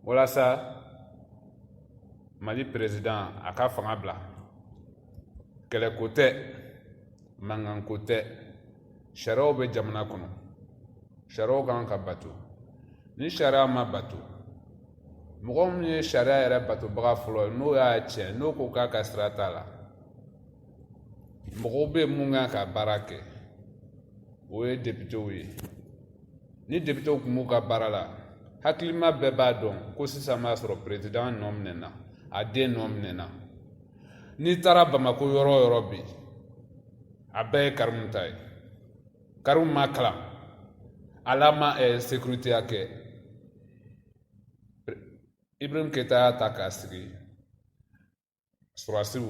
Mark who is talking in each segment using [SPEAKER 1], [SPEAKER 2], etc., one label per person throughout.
[SPEAKER 1] walasa mali perezidan a ka fanga bila kɛlɛko tɛ mankanko tɛ sariyaw bɛ jamana kɔnɔ sariyaw kan ka bato ni sariya ma bato mɔgɔ min ye sariya yɛrɛ batobaga fɔlɔ ye n'o y'a tiɲɛ n'o ko k'a ka sira t'a la mɔgɔw bɛ min kan ka baara kɛ o ye depitew ye ni depitew tun b'u ka baara la hakilima bɛɛ b'a dɔn ko sisan b'a sɔrɔ perezidan nɔ minɛna a den nɔ minɛna n'i taara bamako yɔrɔ o yɔrɔ bi a bɛɛ ye karimu ta ye karimu ma kalan ale ma eh, sekiriteya kɛ ibrahim keyita y'a ta k'a sigi sɔrɔdasiw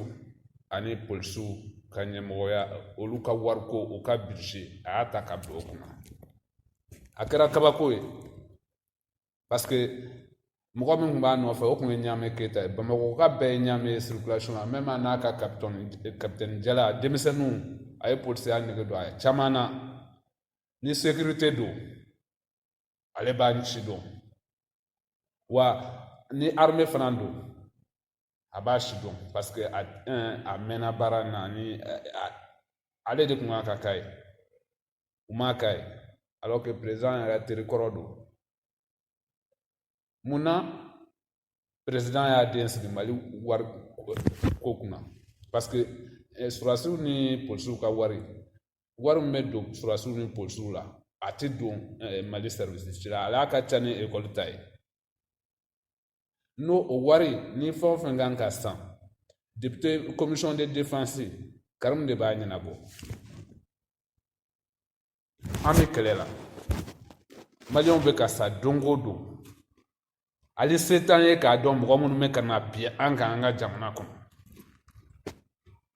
[SPEAKER 1] ani polisiw ka ɲɛmɔgɔya olu ka wariko u ka bije a y'a ta ka bila o kunna a kɛra kabako ye paske mɔgɔ min tun b'a nɔfɛ o tun ye ɲaame keyita ye bamakɔka bɛɛ ye ɲaame ye circulation na même n'a ka kapitɛni jala denmisɛnninw a ye polisiya nege don a ye caman na ni sekirite don ale b'a si dɔn wa ni arme fana don a b'a si dɔn paseke a a mɛnna baara in na ani ale de kun kan ka k'a ye u m'a k'a ye alors que président yɛrɛ teri kɔrɔ don mun na président y'a den sigi mali wariko kunna parce que eh, sɔrɔdasiw ni polisiw ka wari wari min bɛ don sɔrɔdasiw ni polisiw la a tɛ don eh, mali service si la a ka ca ni ekɔli ta ye n'o o wari ni fɛn o fɛn kan ka san depite komisɔn de defansi karimu de b'a ɲɛnabɔ an bɛ kɛlɛ la maliyɛnw bɛ ka sa don o don hali se t'an ye k'a dɔn mɔgɔ minnu bɛ ka na bin an kan an ka jamana kɔnɔ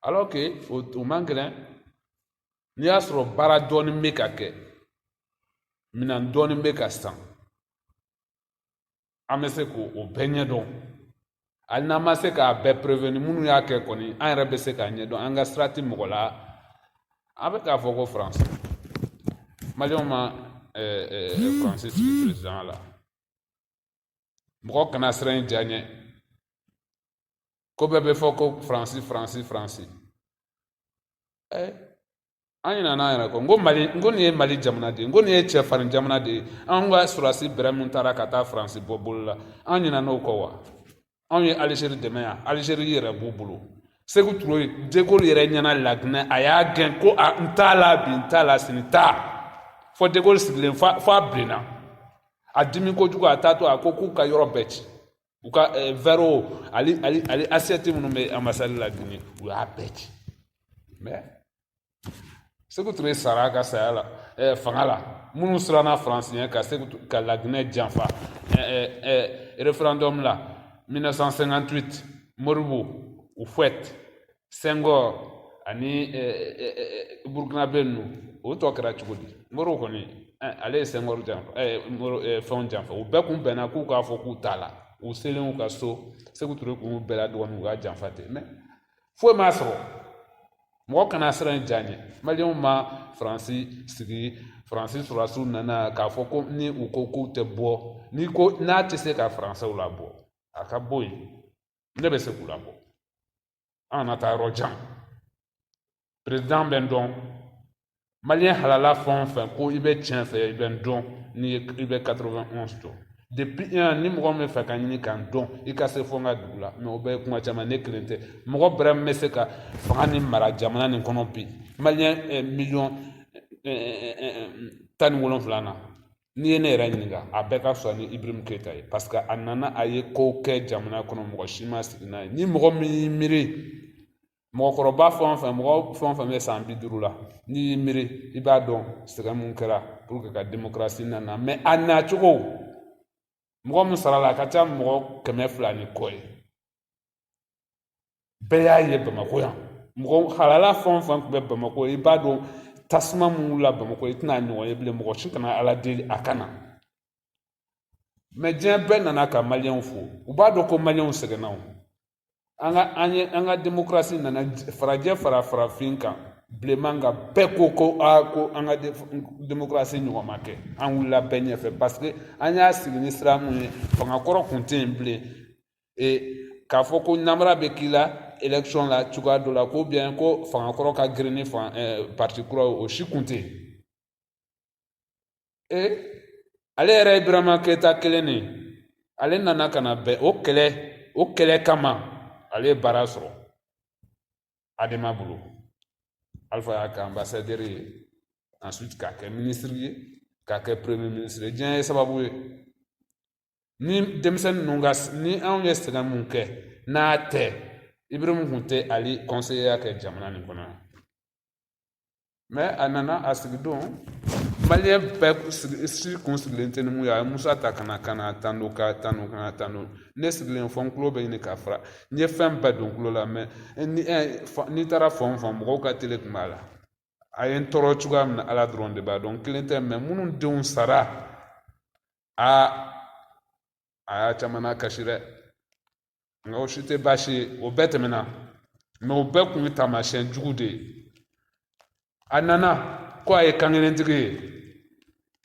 [SPEAKER 1] alors que o o man gɛlɛn n'i y'a sɔrɔ baara dɔɔnin bɛ ka kɛ minɛn dɔɔnin bɛ ka san an bɛ se k'o bɛɛ ɲɛdɔn hali n'an ma se k'a bɛɛ preveni minnu y'a kɛ kɔni an yɛrɛ bɛ se k'a ɲɛdɔn an ka sira tɛ mɔgɔ la an bɛ k'a fɔ ko faransi maliyɛnw ma faransi sigi perezidanya la mɔgɔ kana siran i ja ɲɛ ko bɛɛ bɛ fɔ ko faransi faransi faransi an ɲinɛna an yɛrɛ kɔ n ko mali n ko nin ye mali jamana de ye n ko nin ye cɛfarin jamana de ye an ka sɔrɔdasi bɛrɛ min taara ka taa faransi bɔ bolo la an ɲinɛna o kɔ wa anw ye alizeri dɛmɛ yan alizeri yɛrɛ b'u bolo seku ture ye degoli yɛrɛ ɲɛ na laginɛ a y'a gɛn ko a n t'a la bi n t'a la sini t'a fɔ degoli sigilen fo a bilenna a dimi kojugu a taatɔ a ko k'u ka yɔrɔ bɛɛ ci u ka vɛriw hali hali hali asiyɛti minnu bɛ anbasadi laginɛ u y'a bɛɛ ci mɛ seku ture sara ka saya la eh, fanga la minnu siranna faransi ɲɛ ka seku ka laginɛ janfa eh, eh, referendum la 1958 modibo ufuwɛti sɛngɔri ani burukinabe ninnu o tɔgɔ kɛra cogo di morisi kɔni ale ye sɛngɔri janfa fɛnw janfa u bɛɛ kun bɛnna k'u k'a fɔ k'u t'a la u selen u ka so seku ture kun bɛɛ la dɔgɔnin u k'a janfa ten mɛ foyi m'a sɔrɔ mɔgɔ kana siran i ja ɲɛ maliyɛnw ma faransi sigi faransi sɔrɔdasiw nana k'a fɔ ko ni u ko k'u tɛ bɔ ni ko n'a tɛ se ka faransɛw labɔ a ka bɔ yen ne bɛ se k'u labɔ an kana taa yɔrɔ jan perezidan bɛ n dɔn maliyɛn halala fɛn o fɛn ko i bɛ tiɲɛ fɛ i bɛ n dɔn n'i ye i bɛ 91 dɔn depuis yan ni mɔgɔ min b'a fɛ ka ɲini ka n dɔn i ka se fo n ka dugu la mɛ o bɛɛ ye kuma caman ne kelen tɛ mɔgɔ bɛrɛ min bɛ se ka fanga nin mara jamana nin kɔnɔ bi maliyɛn miliyɔn tan ni wolonwula na n'i ye ne yɛrɛ ɲininka a bɛɛ ka fisa ni ibirahimu keyita ye paseke a nana a ye kow kɛ jamana kɔnɔ mɔgɔ si ma sigi n'a ye ni mɔgɔ min y'i miiri mɔgɔkɔrɔba fɛn o fɛn mɔgɔ fɛn o fɛn bɛ san bi duuru la n'i y'i miiri i b'a dɔn sɛgɛn mun kɛra puruke ka demokarasi nana mɛ a nacogo mɔgɔ min sara a la a ka ca mɔgɔ kɛmɛ fila ni kɔ ye bɛɛ y'a ye bamakɔ yan mɔgɔ halala fɛn o fɛn tun bɛ bamakɔ i b'a dɔn tasuma mun wulila bamakɔ i tɛna a ɲɔgɔn ye bilen mɔgɔ si kana ala deli a ka na mɛ diɲɛ bɛɛ nana ka maliyɛnw fo u b'a dɔn ko maliyɛnw sɛgɛnna o an ka an ye an ka demokarasi nana farajɛ fara farafin kan bilenman kan bɛɛ ko ko a ko an ka demokarasi ɲɔgɔn ma kɛ an wulila bɛɛ ɲɛfɛ paseke an y'a sigi ni sira mun ye fanga kɔrɔ kun tɛ yen bilen k'a fɔ ko nanbara bɛ k'i la election la cogoya dɔ la ko bien ko fanga kɔrɔ ka girin ni fanga parti kura ye o si kun tɛ yen ale yɛrɛ ye burama keyita kelen de ale nana ka na bɛn o kɛlɛ o kɛlɛ kama ale ye baara sɔrɔ adema bolo alifa y'a kɛ anbasadɛri ye ensuite k'a kɛ minisiri ye k'a kɛ premier ministre ye diɲɛ ye sababu ye ni denmisɛnnin ninnu ka ni anw ye sɛgɛn mun kɛ n'a tɛ ibirimu kun tɛ ali kɔnseye kɛ jamana nin kɔnɔ mɛ a nana a sigi don maliyɛn bɛɛ si kun sigilen tɛ ni mun ye a ye musa ta ka na ka n'a tando k'a tando ka n'a tando ne sigilen fo n kulo bɛ ɲini ka fara n ye fɛn bɛɛ don kulo la mɛ n'i taara fan o fan mɔgɔw ka tele kun b'a la a ye n tɔɔrɔ cogoya min na ala dɔrɔn de b'a dɔn n kelen tɛ mɛ minnu denw sara a a y'a caman nakasi dɛ nka o si tɛ baasi ye o bɛɛ tɛmɛna mɛ o bɛɛ kun ye taamasiyɛn jugu de ye a nana ko a ye kankelentigi ye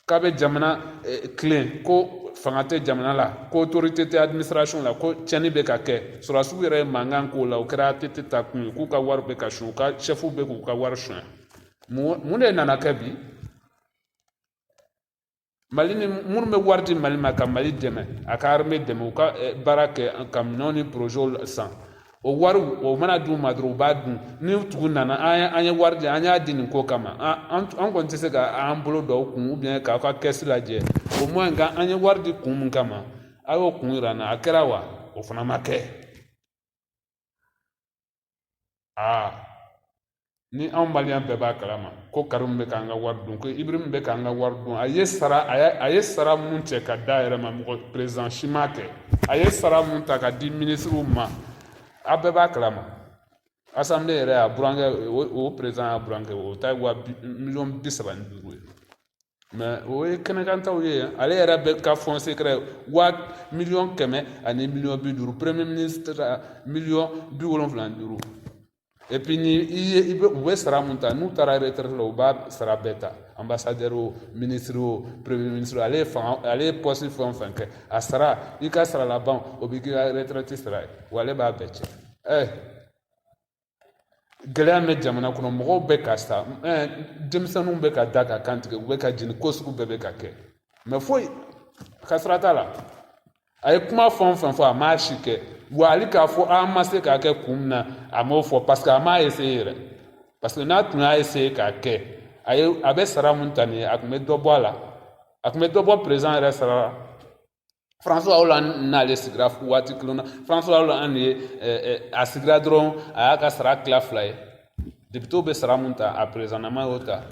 [SPEAKER 1] k'a bɛ jamana tilen ko fanga tɛ jamana la ko autorité tɛ administration la ko tiɲɛni bɛ ka kɛ sɔrɔdasiw yɛrɛ ye mankan k'o la o kɛra ATT ta kun ye k'u ka wari bɛ ka suɲɛ u ka chɛfuw bɛ k'u ka wari suɲɛ mun de nana kɛ bi mali ni minnu bɛ wari di mali ma ka mali dɛmɛ a ka arime dɛmɛ u ka baara kɛ ka minɛnw ni porozɛw san o wari o mana d'u ma dɔrɔn u b'a dun ni tigi nana an ye an ye wari di an y'a di nin ko kama an an kɔni tɛ se ka an bolo don aw kun ou bien k'aw ka kɛsi lajɛ au moins ka an ye wari di kun min kama a y'o kun yira an na a kɛra wa o fana ma kɛ aa ni anw maliyɛn bɛɛ b'a kalama ko karimu bɛ k'an ka wari dun ko ibirimu bɛ k'an ka wari dun a ye sara a ye a ye sara mun cɛ ka d'a yɛrɛ ma mɔgɔ perezan si m'a kɛ a ye sara mun ta ka di minisiriw ma a bɛɛ b'a kalama asanbile yɛrɛ y'a burankɛ o perezan y'a burankɛ o ta ye wa miliyɔn bi saba ni duuru ye mɛ o ye kɛnɛkantaw ye ale yɛrɛ bɛ ka fonds secret wa miliyɔn kɛmɛ ani miliyɔn bi duuru premier ministre miliyɔn bi wolonfila ni duuru epi ni i ye i bɛ u bɛ sara mun ta n'u taara retraite la u b'a sara bɛɛ ta ambassadeur o ministre o premier ministre ale ye fanga ale ye poste fɛn o fɛn kɛ a sara i ka sara laban o bɛ k'i ka retraite sara ye wa ale b'a bɛɛ cɛ ɛɛ gɛlɛya bɛ jamana kɔnɔ mɔgɔw bɛ ka sa denmisɛnninw bɛ ka da ka kan tigɛ u bɛ ka jeni ko sugu bɛɛ bɛ ka kɛ mɛ foyi ka sira t'a la a ye kuma fɛn o fɛn fɔ a m'a si kɛ wa hali k'a fɔ a ma se k'a kɛ kun min na a m'o fɔ parce que a m'a essaye yɛrɛ parce que n'a tun y'a essaye k'a kɛ a ye a bɛ sara mun ta nin ye a tun bɛ dɔ bɔ a la a tun bɛ dɔ bɔ perezan yɛrɛ sara la François Hollande n'ale sigira waati kelen na François Hollande ye a sigira dɔrɔn a y'a ka sara tila fila ye depitew bɛ sara mun ta a perezanama y'o ta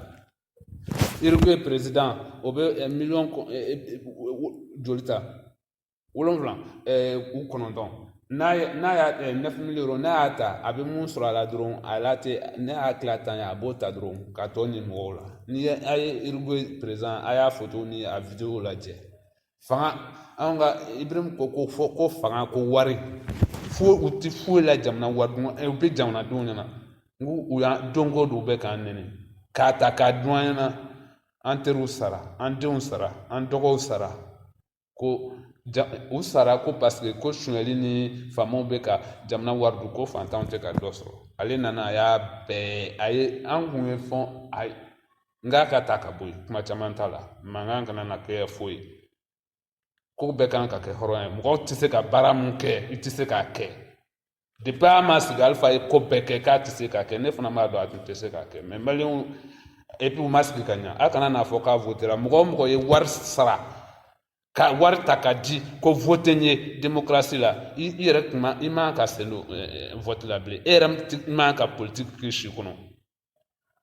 [SPEAKER 1] Uruguay perezidan o bɛ miliyɔn joli ta wolonwula ou kɔnɔntɔn n'a ye n'a y'a neuf millions n'a y'a ta a bɛ mun sɔrɔ a la dɔrɔn a la tɛ ne y'a tila tan ye a b'o ta dɔrɔn k'a tɔ ni mɔgɔw la ni a ye Uruguay perezan a y'a foto ni a wideyo lajɛ fanga anw ka ibrahim ko ko fɔ ko fanga ko wari fo u ti foyi la jamana wari dun u bɛ jamanadenw ɲɛna n ko u y'an don ko don u bɛ k'an nɛni k'a ta k'a dun an ɲɛna an teriw sara an denw sara an dɔgɔw sara ko ja u sara ko paseke ko sonyali ni faamaw bɛ ka jamana wari dun ko fantanw tɛ ka dɔ sɔrɔ ale nana a y'a bɛɛ a ye an kun ye fɛn a n k'a ka ta ka bɔ yen kuma caman t'a la mankan kana na kɛ foyi ko bɛɛ kan ka kɛ hɔrɔn ye mɔgɔw tɛ se ka baara mun kɛ i tɛ se k'a kɛ depi a ma sigi alifa ye ko bɛɛ kɛ k'a tɛ se k'a kɛ ne fana b'a dɔn a tun tɛ se k'a kɛ mɛ maliyɛnw epi u ma sigi ka ɲa a kana n'a fɔ k'a votera mɔgɔ o mɔgɔ ye wari sara ka wari ta ka di ko vote n ye demokarasi la i yɛrɛ tuma i man ka selo vote la bilen e yɛrɛ man ka politiki k'i si kɔnɔ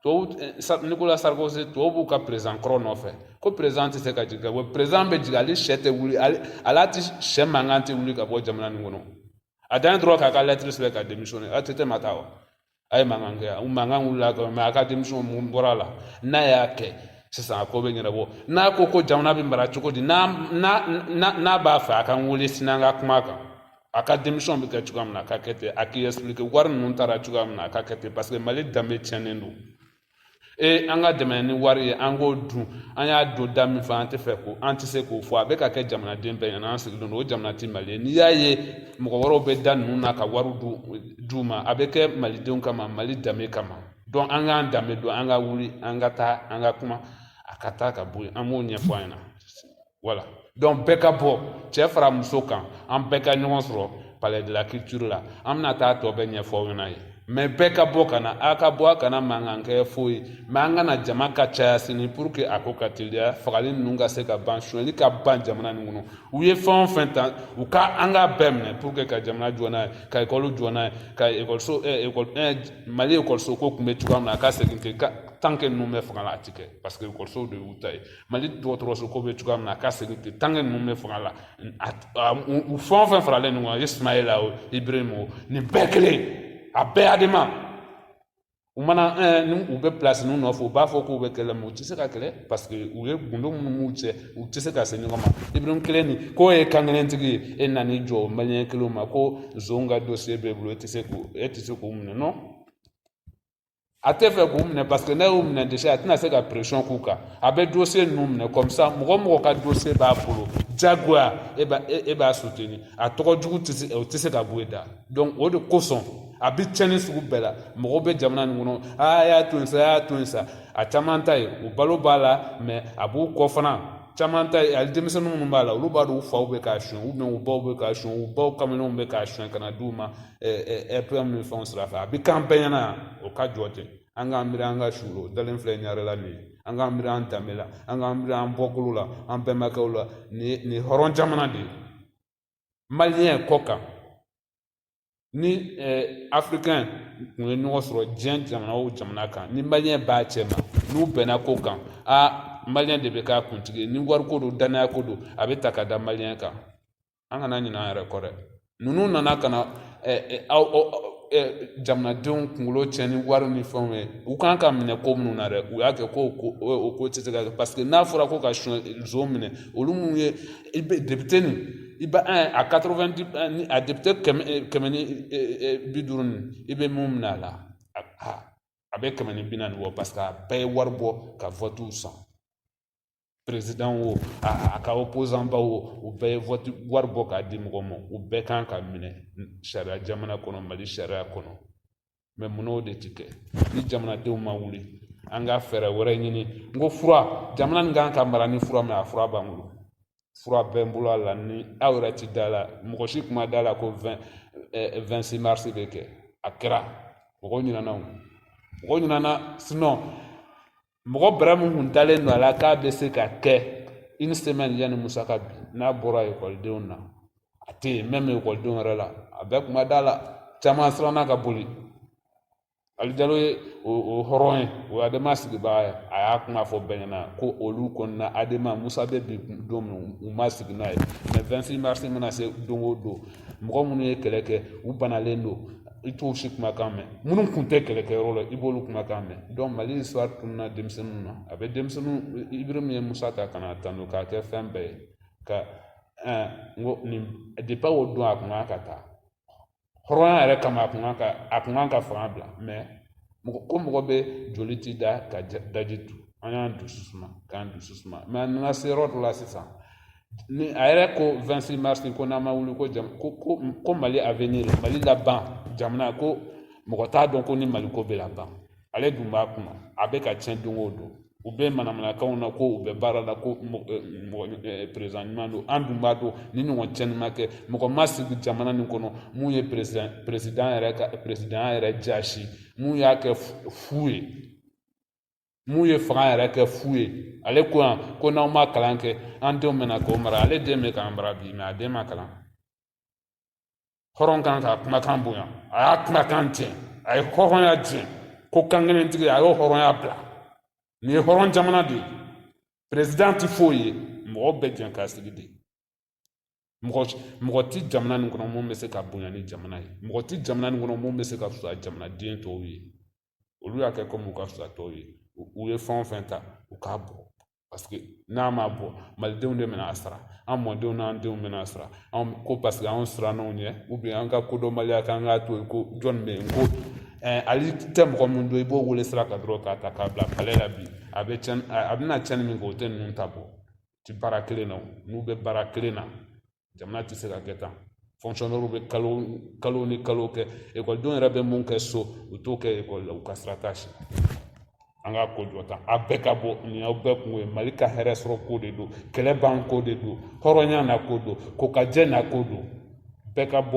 [SPEAKER 1] tubabu eh, Nicolas Sarkozy tubabu ka perezidan kɔrɔ nɔfɛ ko perezidan tɛ se ka jigin ka bɔ perezidan bɛ jigin ale sɛ tɛ wuli ale ala tɛ sɛ mankan tɛ wuli ka bɔ jamana nin kɔnɔ a dan dɔrɔn k'a ka lɛtiri sɛbɛn ka demisiyɔne a tɛ tɛmɛ taa wa a ye mankan kɛ u mankan wulila quand même a ka demisiyɔne mun bɔra a la n'a y'a kɛ sisan a ko bɛ ɲɛnabɔ n'a ko ko jamana bɛ mara cogo di n'a n'a n'a b'a fɛ a ka n wele sini an ka kuma kan a ka demisiyɔn bɛ kɛ cogoya min na a ka kɛ ten a k'i ɛsipilike wari ninnu taara cogoya min na a ka kɛ ten paseke mali danbe tiɲɛnen don e an ka dɛmɛ ni wari ye an k'o dun an y'a don da min fɛ an tɛ fɛ ko an tɛ se k'o fɔ a bɛ ka kɛ jamanaden bɛɛ ɲɛna an sigilen don o jamana tɛ mali ye n'i y'a ye mɔgɔ wɛrɛw bɛ da ninnu na ka wari d'u ma a bɛ kɛ malidenw kama mali danbe kama dɔn an k'an danbe dɔn an ka wuli an ka taa an ka kuma a ka taa ka bɔ yen an b'o ɲɛfɔ an ɲɛna wala dɔnku bɛɛ ka bɔ cɛɛ fara muso kan an bɛɛ ka ɲɔgɔn sɔrɔ palais de la culture la an bɛna taa tɔ bɛɛ ɲɛfɔ aw ɲɛna yen mɛ bɛɛ ka bɔ ka na a ka bɔ a kana mankan kɛ foyi mɛ an ka na jama ka caya sini pour que a ko ka teliya fagali ninnu ka se ka ban sonyali ka ban jamana nin kɔnɔ u ye fɛn o fɛn ta u ka an k'a bɛɛ minɛ pour que ka jamana jɔ n'a ye ka ekɔli jɔ n'a ye ka ekɔliso ekɔli eh, eh, mali ekɔliso ko tun bɛ cogoya min na a ka segin ten tant que ninnu bɛ fanga la a tɛ kɛ parce que ekɔlisow de y'u ta ye mali dɔgɔtɔrɔso ko bɛ cogoya min na a ka segin ten tant que ninnu bɛ fanga la u fɛn o fɛn faralen ɲɔgɔn kan soumaïla o ibrahim o nin bɛɛ kelen a bɛɛ adema u mana eh, ni u bɛ pilasi ninnu nɔfɛ u b'a fɔ k'u bɛ kɛlɛ mɛ u tɛ se ka kɛlɛ parce que u ye gundo minnu b'u cɛ u tɛ se ka se ɲɔgɔn ma ibrahim kelen nin k'o ye kankelentigi ye e nan'i jɔ o maliyɛn kelenw ma ko zon ka dosiye b'e bolo e tɛ se k'o e tɛ se k'o minɛ non a tɛ fɛ k'u minɛ paseke n'a y'u minɛ dɛsɛ a tɛna se ka pression k'u kan a bɛ dossier ninnu minɛ kɔmisa mɔgɔ mɔgɔ ka dossier b'a bolo jagoya e b'a e b'a suteni a tɔgɔ jugu tɛ se o tɛ se ka bɔ e da donc o de kosɔn a bɛ tiɲɛni sugu bɛɛ la mɔgɔw bɛ jamana nin kɔnɔ a y'a to yen sa a y'a to yen sa a caman ta ye o balo b'a la mɛ a b'u kɔ fana caman ta ye hali denmisɛnnin minnu b'a la olu b'a dɔn u faw bɛ k'a sonyɛ u bɛn u baw bɛ k'a sonyɛ u baw kamalenw bɛ k'a sonyɛ ka na d'u ma ɛpilɛn min fɛnw sira fɛ a bɛ k'an bɛɛ ɲɛna o ka jɔ ten an k'an miiri an ka suw la u dalen filɛ ɲarela nin ye an k'an miiri an danbe la an k'an miiri an bɔkolo la an bɛnbakɛw la nin ye nin ye hɔrɔn jamana de ye maliyɛn kɔkan ni eh, africain kun ye ɲɔgɔn sɔrɔ diɲɛ jamana o jamana kan ni maliyɛn b'a cɛ ma n'u bɛnna ko kan a maliyɛn de bɛ k'a kuntigi ye ni wariko don dannaya ko don a bɛ ta ka da maliyɛn kan an kana ɲinɛ an yɛrɛ kɔ dɛ ninnu nana ka na aw jamanadenw kunkolo tiɲɛ ni wari ni fɛnw ye u kan ka minɛ ko minnu na dɛ u y'a kɛ ko o ko tɛ se ka kɛ paseke n'a fɔra ko ka son nson minɛ olu minnu ye i bɛ depite nin i bɛ a quatre-vingt ni a depite kɛmɛ kɛmɛ ni bi duuru nin i bɛ min minɛ a la a bɛ kɛmɛ ni bi naani bɔ paseke a bɛɛ ye wari bɔ ka vɔtiw san perezidan wo a ka opozanba wo u bɛɛ ye vɔti wari bɔ k'a di mɔgɔ ma u bɛɛ kan ka minɛ sariya jamana kɔnɔ mali sariya kɔnɔ mɛ munna o de ti kɛ ni jamanadenw ma wuli an ka fɛɛrɛ wɛrɛ ɲini n ko fura jamana nin kan ka mara ni fura mɛ a fura b'an bolo fura bɛ n bolo a la ni aw yɛrɛ ti da la mɔgɔ si kun ma da la ko 26 eh, mars bɛ kɛ a kɛra mɔgɔ ɲinana o mɔgɔ ɲinana sinɔn mɔgɔ bɛrɛ min kun dalen don a la k'a bɛ se ka kɛ une semaine yanni musa ka bin n'a bɔra ekɔlidenw na a tɛ yen mɛmi ekɔlidenw yɛrɛ la a bɛɛ kun ma da la caman siranna ka boli ali jalo ye o o hɔrɔn ye o adema sigibaga ye a y'a kuma fɔ bɛɛ ɲɛna ko olu kɔnɔna adema musa bɛ bin don min u ma sigi n'a ye mɛ 26 mars mana se don o don mɔgɔ minnu ye kɛlɛ kɛ u banalen don i t'o si kumakan mɛn minnu kun tɛ kɛlɛkɛyɔrɔ la i b'olu kumakan mɛn donc mali histoire tununa denmisɛnninw na a bɛ denmisɛnninw ibirima ye musa ta ka n'a tanu k'a kɛ fɛn bɛɛ ye ka n ko nin depa o don a kun kan ka taa hɔrɔnya yɛrɛ kama a kun kan ka a kun kan ka fanga bila mɛ mɔgɔ ko mɔgɔ bɛ joli t'i da ka daji tu an y'an dusu suma k'an dusu suma mɛ an nana se yɔrɔ dɔ la sisan ni a yɛrɛ ko vɛntisisi marisi ko n'an ma wuli ko jam ko ko ko mali avenir mali laban jamana ko mɔgɔ t'a dɔn ko ni mali ko bɛ laban ale dun b'a kunna a bɛ ka tiɲɛ don o don u bɛ manamanakanw na ko u bɛ baara la ko mɔgɔ perezidan ɲuman don an dun b'a dɔn nin ɲɔgɔn cɛnni ma kɛ mɔgɔ ma sigi jamana nin kɔnɔ mun ye perezidan perezidan yɛrɛ ka perezidan yɛrɛ jaasi mun y'a kɛ fu ye min ye fanga yɛrɛ kɛ fu ye ale ko yan ko n'aw ma kalan kɛ an denw bɛna k'aw mara ale den bɛ k'an mara bi mɛ a den ma kalan hɔrɔn kan k'a kumakan bonya a y'a kumakan tiɲɛ a ye hɔrɔnya tiɲɛ ko kankelentigi a y'o hɔrɔnya bila nin ye hɔrɔn jamana de ye perezidan tɛ foyi ye mɔgɔw bɛ jɛn k'a sigi de mɔgɔ mɔgɔ tɛ jamana nin kɔnɔ mun bɛ se ka bonya ni jamana ye mɔgɔ tɛ jamana nin kɔnɔ mun bɛ se ka fisa jamanaden tɔw ye olu y'a kɛ kɔmi u ka fisa tɔw ye u ye fɛn o fɛn ta u k'a bɔ paseke n'a ma bɔ malidenw de bɛna a sara an mɔdenw n'an denw bɛna a sara anw ko paseke anw sirann'o ɲɛ an ka kodɔnbaliya k'an k'a to yen ko jɔn bɛ yen ko hali i tɛ mɔgɔ min dɔn i b'o wele sira kan dɔrɔn k'a ta k'a bila palɛ la bi a bɛ cɛn a bɛna cɛnni min kɛ o tɛ ninnu ta bɔ tɛ baara kelen na n'u bɛ baara kelen na jamana tɛ se ka kɛ tan fɔnkisɔnɛriw bɛ kalo kalo ni kalo kɛ ekɔlidenw yɛrɛ bɛ mun kɛ so u t'o kɛ ekɔli la u ka sira t'a si an ka ko jɔ tan a bɛɛ ka bɔ nin aw bɛɛ kun ye mali ka hɛrɛ sɔrɔ ko de don kɛlɛ ban ko de don hɔrɔnya na ko don kokajɛ na ko don bɛɛ ka bɔ